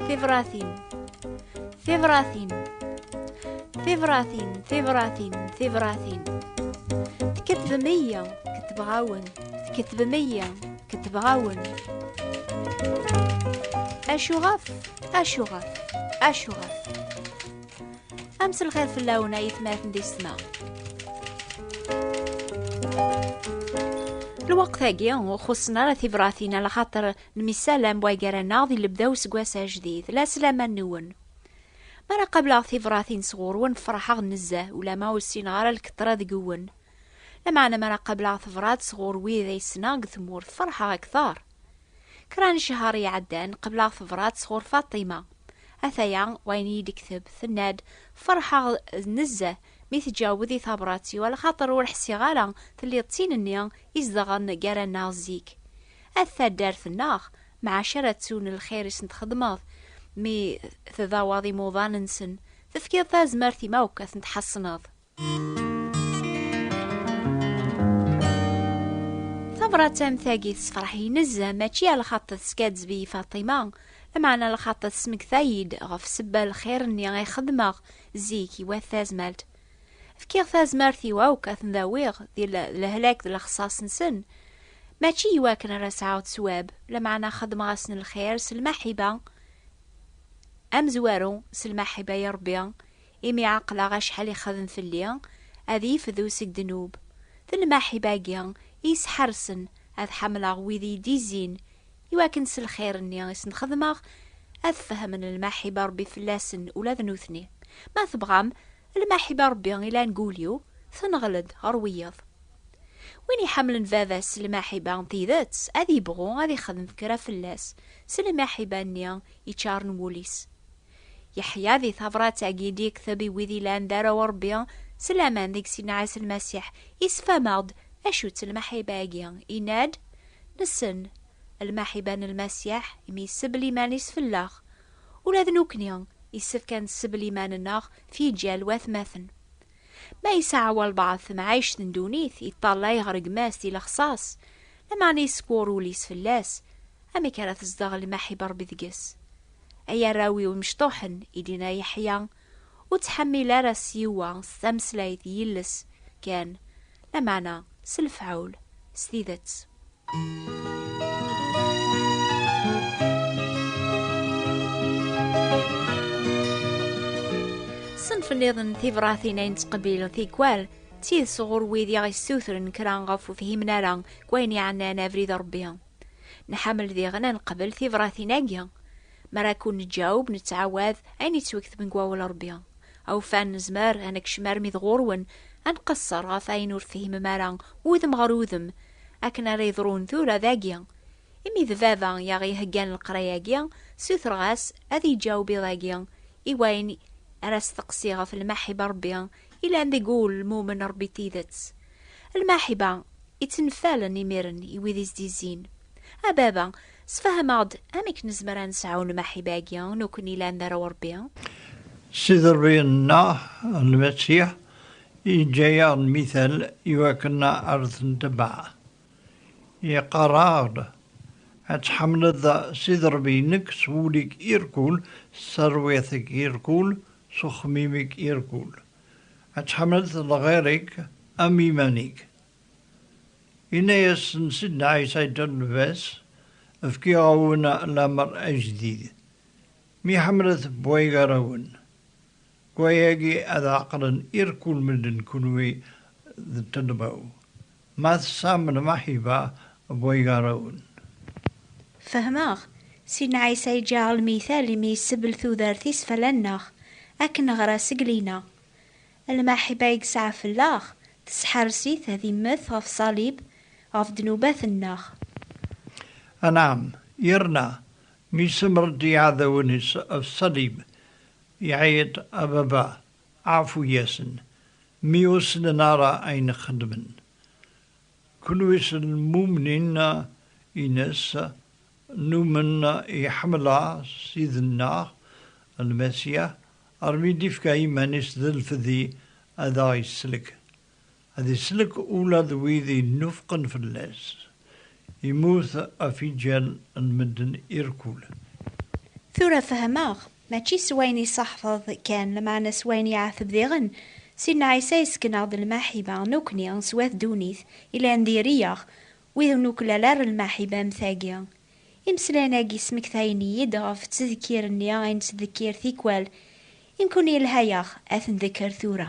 Tibratin Tibratin Tibratin Tibratin Tibratin Tkettbem iya Kettbeɣ-awen Tkettbem iya Kettbeɣ-awen Acuɣef Acuɣef Acuɣef Am s lxir fell-awen ay atmaten di ssma. lweqt-agi ur xuṣṣen ara tibratin ala xaṭer nemyessalam waggar-aneɣ di lebda useggas ajdid la sslam-nwen mi ara qableɣ tibratin sɣur-wen ferḥeɣ nezzeh ulama ur ssineɣ ara lkeṭra deg-wen lameɛna mi ara qableɣ tebrat sɣur wid ay ssneɣ deg tmurt ferḥeɣ akteṛ Kra n cehher iɛeddan, qebleɣ tebrat sɣur Faṭima. Ataya wayen iyi-d-tekteb, tenna-d, Ferḥeɣ nezzeh mi tǧawed i tabrat-iw, alaxaṭer ur ḥsiɣ ara telliḍ d tin-nni izedɣen gar-aneɣ zik. At taddart-nneɣ, mɛac ara ttun lxir i sen-txedmeḍ mi tdawaḍ imuḍan-nsen, tefkiḍ tazmert i ma akk ad ten-tḥeṣneḍ. tabrat am tagi tessefreḥ-iyi nezzeh mačči ar lxaṭ teskaddeb-iyi Faṭima lameɛna lxaṭ tesmekta-iyi-d ɣef sebba lxir-nni ay xedmeɣ zik i wat tazmalt fkiɣ tazmart-iw akk ad ten-dawiɣ di lehlak d lexṣaṣ-nsen mačči i wakken ara sɛuɣ ttwab lameɛna xedmeɣ-asen lxir s lmaḥiba amezwaru s lmaḥiba i Ṛebbi Imi ɛeqleɣ acḥal ixdem fell-i, ad yefdu seg ddnub. D lmaḥiba-agi i yesḥersen ad ḥamleɣ wid i yi-d-izzin, i wakken s lxir-nni i sen-xedmeɣ, ad fehmen lmaḥiba Rebbi fell-asen ula d nutni. Ma tebɣam, lmaḥiba Rebbi ilan deg wul-iw, tenɣel-d ɣer wiyeḍ. Win iḥamlen baba-s s lmaḥiba n tidet, ad yebɣu ad ixdem kra fell-as s lmaḥiba-nni iččaren wul-is. Yeḥya di tabrat-agi d-yekteb i wid ilan d arraw n Rebbi, s laman deg Sidna Ɛisa Lmasiḥ, yessefhem-aɣ-d acu-tt lmaḥiba-agi, yenna-d, Nessen lmaḥiba n Lmasiḥ, imi yessebel iman-is fell-aɣ. Ula d nekkni, yessefk ad nessebel iman-nneɣ f yiǧal watmaten. Ma yesɛa walbeɛḍ temɛict n ddunit, yeṭṭallay ɣer gma-s di lexṣaṣ, lameɛna yeskwur wul-is fell-as, Amek ara tezdeɣ lmaḥib n Ṛebbi deg-s? Ay arraw-iw imecṭuḥen, i d-yenna Yeḥya, ur ttḥemmil ara s yiwa s tameslayt yilles kan, lameɛna s lefɛul, s tidet. Ṣṣenf niḍen n tibṛatin ay nettqebbil tikwal d tidet ɣur wid i aɣ-yessutren kra ɣef ur fhimen ara deg wayen yeɛnan abrid n Ṛebbi. Nḥamel diɣen ad neqbel tibratin-agi. Mi ara kun-neǧaweb, nettɛawad ayen yettweketben deg Wawal n Rebbi. Awfan, nezmer ad nekcem armi d ɣur-wen, ad nqesser ɣef wayen ur tefhimem ara udem ɣer udem, akken ara yeḍrun tura dagi. Imi d baba i aɣ-iheggan leqraya-agi, ssutreɣ-as ad iyi-ǧaweb iḍ-agi i wayen ara steqsiɣ ɣef lmaḥiba n Rebbi, Ilan deg ulmum n Ṛebbi tidet. Lmaḥba ittenfalen imiren i wid i s-d-izzin. A Baba, sefhem-aɣ-d amek nezmer ad nesɛu lmaḥiba-agi nekkni llan d arraw n Ṛebbi? Sidi Ṛebbi nneɣ, Lmasiḥ, yeǧǧa-yaɣ lmital iwakken ar t-ntebaɛ. Yeqqar-aɣ-d, Ad tḥemmleḍ Sidi Ṛebbi-inek s wul-ik irkul, s terwiḥt-ik irkul, s uxemmim-ik irkul. Ad tḥemmleḍ lɣir-ik am iman-ik. Yenna-yasen Sidna Ɛisa i Dda Lbas, Fkiɣ-awen lamer ajdid. Mi ḥemmlet bwaygar-awen, deg waya-agi ad ɛeqlen irkul medden kunwi d ṭṭelba-w. Ma tesɛam lmaḥiba n waygarewen. Fehmeɣ, Sidna Ɛisa iǧǧa-aɣ lmital imi yessebl tudert-is fell-anneɣ, akken neɣra seg lina. Lmaḥiba i yesɛa fell-aɣ, tesḥers-it ad immet ɣef ṣalib ɣef ddnubat-nneɣ. Anɛam, yerna mi yessemred iɛdawen-is ɣef ṣalib, iɛeyyeḍ, A Baba, Ɛfu-yasen, mi ur snen ara ayen xeddmen. Kunwi s lmumnin ines, numen iḥemla Ssid-nneɣ, Lmasiḥ, armi d-ifka iman-is d lfedi ad aɣ-isellek. Ad isellek ula d wid yennufqen fell-as. Immut afijal n medden irkulen. Tura fehmeɣ, mačči s wayen iṣaḥfeḍ kan, lmeɛna s wayen yeɛteb diɣen, Sidna Ɛisa yesken-aɣ-d lmaḥiba, nekni, s wat ddunit, yellan diri-yaɣ, wid ur nuklal ara lmaḥiba am tagi. Imeslayen-agi smektayen-iyi-d ɣef ttdekkir-nni ay nettdekkir tikwal, i nekni yelha-yaɣ ad ten-dekker tura.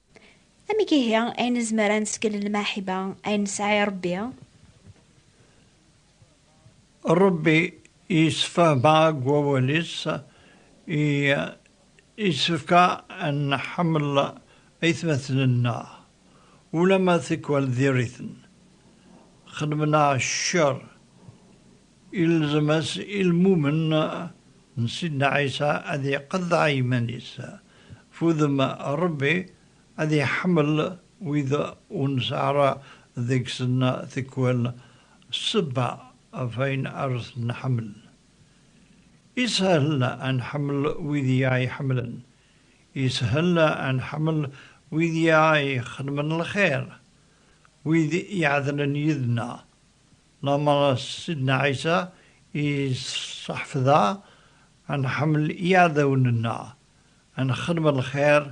Amek ihi ay nezmer ad neskel lmaḥiba ay nesɛa i Ṛebbi? Ṛebbi yessefhem-aɣ deg Wawal-is i yessefk ad nḥemmel aytmaten-nneɣ ulamma tikwal diri-ten xedmen-aɣ ccer. Ilzem-as i lmumen n Sidna Ɛisa ad iqeḍɛa iman-is. F udem, Ṛebbi ad iḥemmel wid ur nesɛi ara deg-sen tikwal ssebba ɣef wayen ara ten-nḥemmel. Ishel ad nḥemmel wid i aɣ-iḥemmlen. Ishel ad nḥemmel wid i aɣ-ixedmen lxir, wid iɛedlen yid-neɣ, Lamer Sidna Ɛisa yesseḥfed-aɣ ad nḥemmel iɛdawen-nneɣ, ad nexdem lxir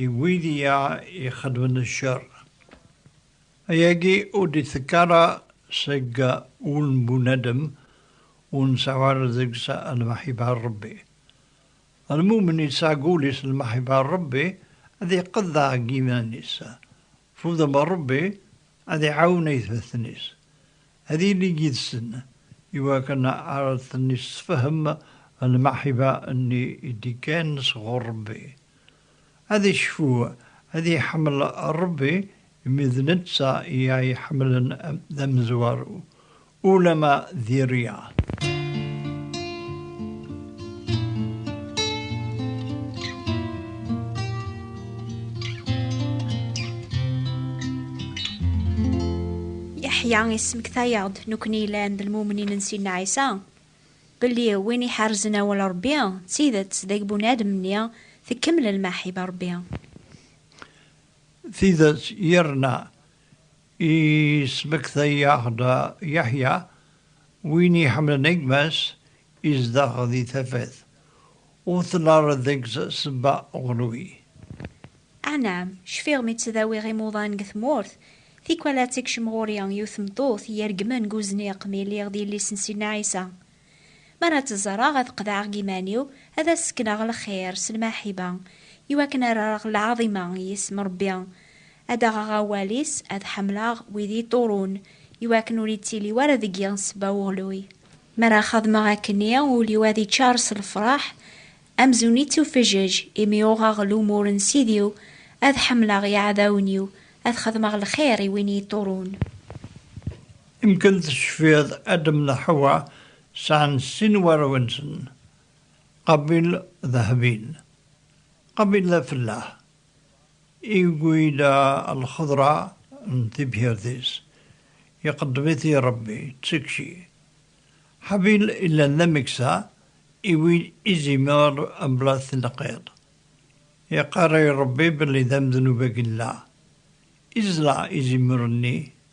i wid i aɣ-ixedmen ccer. Ayagi ur d-itekk ara seg wul n bunadem ur nseɛɛu ara deg-s lmeḥba n Rebbi. Lmumen yesɛa deg wul-is lmeḥba n Rebbi, ad iqeḍɛeɣ deg yiman-is, Fudem Ṛebbi ad iɛawen aytmaten-is ad ilin yid-sen i wakken ara ten-issefhem lmeḥba-nni i d-ikkan sɣur Ṛebbi. Ad icfu, ad iḥemmel Ṛebbi imi d netta i aɣ-iḥemmlen d amezwaru, Ulamma d Riyad. Yeḥya ismektayeɣ-d nekni yellan d lmumnin n Sidna Ɛisa, belli win iḥerzen awal Rebbi d tidet deg bunadem-nni tekmel lmaḥiba Rebbi. Tidet yerna Yesmektay-aɣ-d Yeḥya, win iḥemmlen gma-s izdeɣ di tafat, ur tnarred deg-s sebba ɣlwi. Anɛam, cfiɣ mi ttdawiɣ imuḍan deg tmurt, tikwal ad tekcem ɣur-i yiwet tmeṭṭut ireggmen deg uzniq mi lliɣ d yelli-s n Sidna Ɛisa, Mi ara tt-ẓreɣ, ad qeḍɛeɣ deg yiman-iw, ad as-sekneɣ lxir s lmaḥiba, iwakken ad rreɣ lɛaḍima i yisem Ṛebbi, ad d-aɣeɣ awal-is, ad ḥemmleɣ wid yi-ṭurun, iwakken ur ittili wara deg-i ssebba uɣluy. Mi ara xedmeɣ akken-nni, ul-iw ad iččar s lefṛaḥ, amzun ittufeǧǧeǧ, imi uɣeɣ lumuṛ n Sidi-w, ad ḥemmleɣ iɛdawen-iw, ad xedmeɣ lxir i win yi-ṭurun. Ymgysylltwyd Adam a Hawa San Sin Warwinson, Qabil Dhahabin, Qabil Laflah, i gwyda lxedra n tibḥirt-is, iqeddem-it-i Rebbi, Tsekci. Habil illan d ameksa i win i zimer mebla tneqqiḍt. Iqqar i Rebbi belli d amednub agella, izla izimer-nni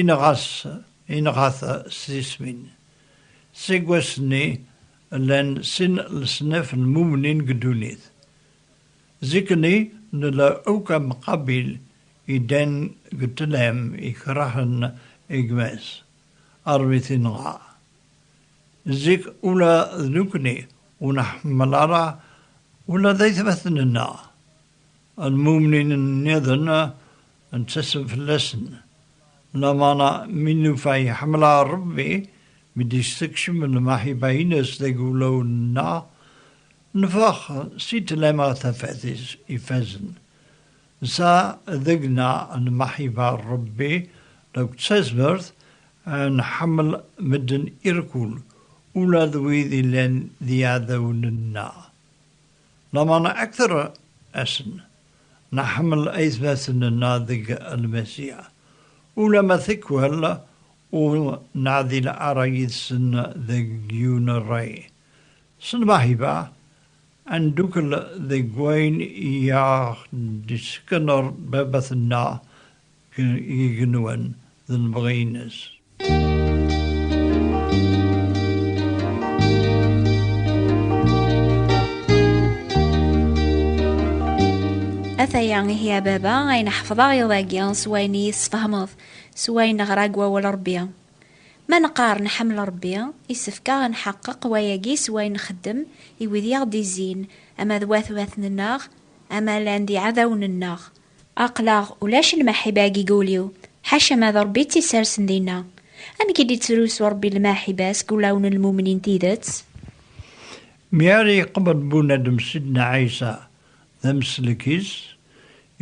Inɣa-s, inɣa-t s tismin. Seg wass-nni, llan sin leṣnaf n mumnin deg ddunit. Zik-nni, nella akk am Qabil iddan deg ṭṭlam ikrahen gma-s, armi t-inɣa. Zik ula d nekkni ur nḥemmel ara ula d aytmaten-nneɣ, Lmumnin nniḍen nettasem fell-asen, lamana mi nufa iḥemmel-aɣ Rebbi, mi d-yessekcem lmaḥiba-ines deg wulawen-nneɣ, nfex si ṭlam ɣer tafat-is ifazen. Nesɛa deg-neɣ lmaḥiba n Rebbi akked tazmert ad nḥemmel medden irkul, ula d wid yellan d iɛdawen-nneɣ. Lameɛna akter asen nḥemmel aytmaten nneɣ deg lmasiḥ, ulamma tikwal ur neɛdil ara yid-sen deg yiwen rray. S lmeḥba ad ndukkel deg wayen i aɣ-d-isekner Baba-tneɣ deg igenwan d lebɣi-ines. Ataya ihi a baba ayen ḥefḍeɣ iḍ-agi s wayen iyi-tesfehmeḍ s wayen neɣra deg wawal Rebbi. Ma neqqar nḥemmel Rebbi, isefk-aɣ ad nḥeqqeq wayagi s wayen nxeddem i wid i aɣ-d-izzin, ama d watmaten-nneɣ, ama llan d iɛdawen-nneɣ. Aql-aɣ ulac lmaḥiba deg wul-iw, ḥaca ma d Ṛebbi i tt-issersen dinna. Amek i d-ittrusu Ṛebbi lmaḥiba seg wulawen n lmumnin n tidet? Mi ara yeqbel bunadem Sidna Ɛisa d ameslek-is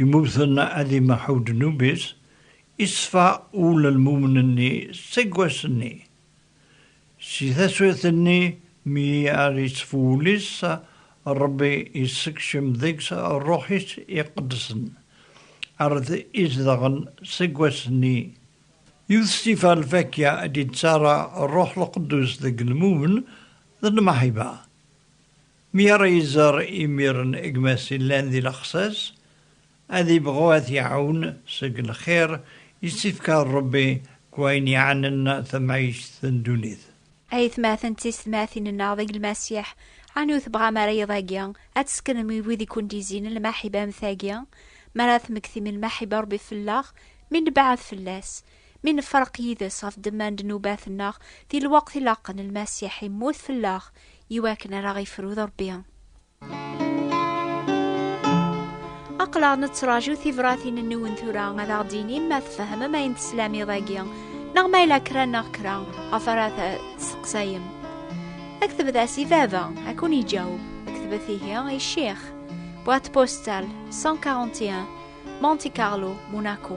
imuten ad imeḥḥu ddnub-is, iṣfa wul n lmumnin-nni seg wass-nni. Si taswiṭ-nni mi ara ittfu wul-is, Ṛebbi yessekcem deg-s Ṛṛuḥ-is iqedsen, ar d-izedɣen seg wass-nni. Yiwet si tifɣa n lfakya i d-yeţţarra Ṛṛuḥ Lqeddus deg lmumen d lmeḥba. Mi ara iẓer imiren gma-s yellan di lexsas, Ad ibɣu ad t-iɛawen seg lxir i s-ifka Ṛebbi deg wayen yeɛnan tamɛict n ddunit. A yetmaten d teysetmatin-nneɣ deg Lmasiḥ, ɛni ur tebɣam ara iḍ-agi ad tesseknem i wid i kent-izzin lmaḥiba am tagi? Mi ara temmektim lmaḥiba n Ṛebbi fell-aɣ, mi nebɛed fell-as, mi nefreq yid-s ɣef ddemma n ddnubat-nneɣ di lweqt ilaqen, Lmasiḥ immut fell-aɣ i wakken ara aɣ-ifru d Ṛebbi. aqlaɣ nettraǧu tibratin-nniwen tura ad aɣ-d-inim ma tfehmem ayen teslam iḍ-agi neɣ ma yella kra neɣ kra ɣef ara testeqsayem aktebet-as i baba ad kun-iǧaweb aktebet ihi i ccix boîte postale 141 Monte Carlo Monaco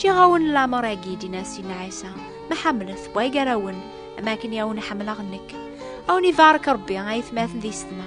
Ǧiɣ-awen lamer-agi d-inas Sidna Ɛisa, ma ḥemmlet, wwa i gar-awen, am akken i awen-ḥemmleɣ nekk. Awen ibarek Rebbi, ay atmaten di sedma.